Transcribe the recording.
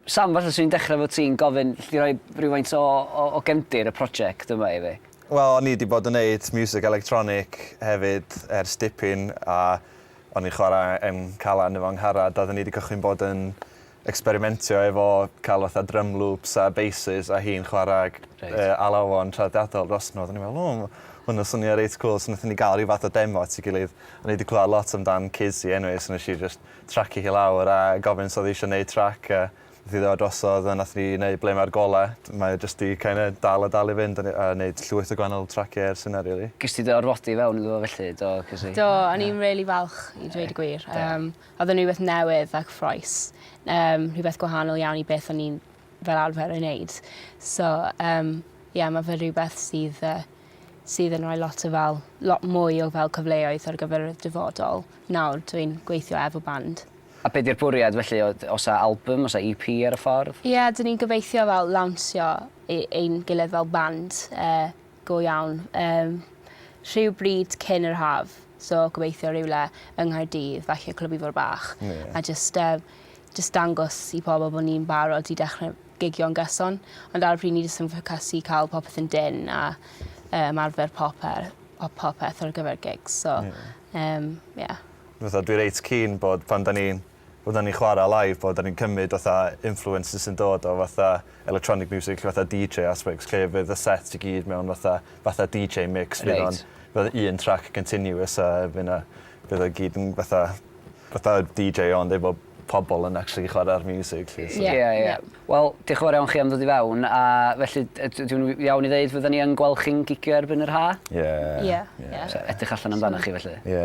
Sam, falle 'swn i'n dechrau efo ti'n gofyn, allet ti roi rhywfaint o o o gefndir y project yma i fi? Wel, o'n i 'di bod yn neud miwsig electronic hefyd ers dipyn a o'n i'n chwarae yn Calan efo 'Ngharad a oedden ni 'di cychwyn bod yn ecsperimentio efo cael fatha drum loops a basses a hi'n chwarae g- Reit. yy alawon traddodiadol drosto nhw a oedden ni'n meddwl 'o ma' hwn yn swnio reit cŵl' so wnaethon ni gael ryw fath o demo at ei gilydd. O'n i 'di clywed lot amdan Kizzy anyway so wnes i jyst tracio hi lawr a gofyn os odd 'i isio neud trac a nath 'i ddod drosodd a nath ni neud ble ma'r gole t- mae o jyst 'di kinda dal a dal i fynd a ne- a neud llwyth o gwahanol tracie ers hynna rili. Ges ti dy orfodi i fewn iddo fo felly do ges i. Do o'n i'n rili falch i dweud y gwir. Yym odd o'n rwbeth newydd a cyffrous. Yym rhwbeth gwahanol iawn i beth o'n i'n fel arfer ei neud. So yym ie ma' fe rhywbeth sydd yy sydd yn roi lot o fel lot mwy o fel cyfleoedd ar gyfer y dyfodol nawr dwi'n gweithio efo band. A be' 'di'r bwriad felly o- o's 'a albym o's 'a EP ar y ffordd? Ie 'dyn ni'n gobeithio fel lawnsio e- ein gilydd fel band yy go iawn yym rhywbryd cyn yr haf so gobeithio rywle yng Nghaerdydd falle Clwb Ifor Bach. Ie. A jyst yym jyst dangos i pobl bo' ni'n barod i dechre gigio'n gyson, ond ar y pryd ni jyst yn ffocysu i ca'l popeth yn dyn a yy ymarfer poper- po- popeth ar gyfer gigs so... Ie. ...yym ie. Fatha dwi reit keen bod pan 'dan ni'n pan 'dan ni'n chwara live bod 'dan ni'n cymyd fatha influences sy'n dod o fatha electronic music lle fatha Dee Jay aspects lle fydd y set i gyd mewn fatha fatha Dee Jay mix... Reit. ...fydd o'n fel un track continuous a fy' 'na fydd o gyd yn fatha fatha DJ ond efo pobol yn actually chwara'r miwsig 'lly so... Ie ie. Ie. Wel dioch yn fawr iawn chi am ddod i fewn a felly d- yd- ydw i'n iawn i ddeud fyddan ni yn gweld chi'n gigio erbyn yr Ha'? Ie. Ie. Ie. So edrych allan amdanoch chi felly. Ie.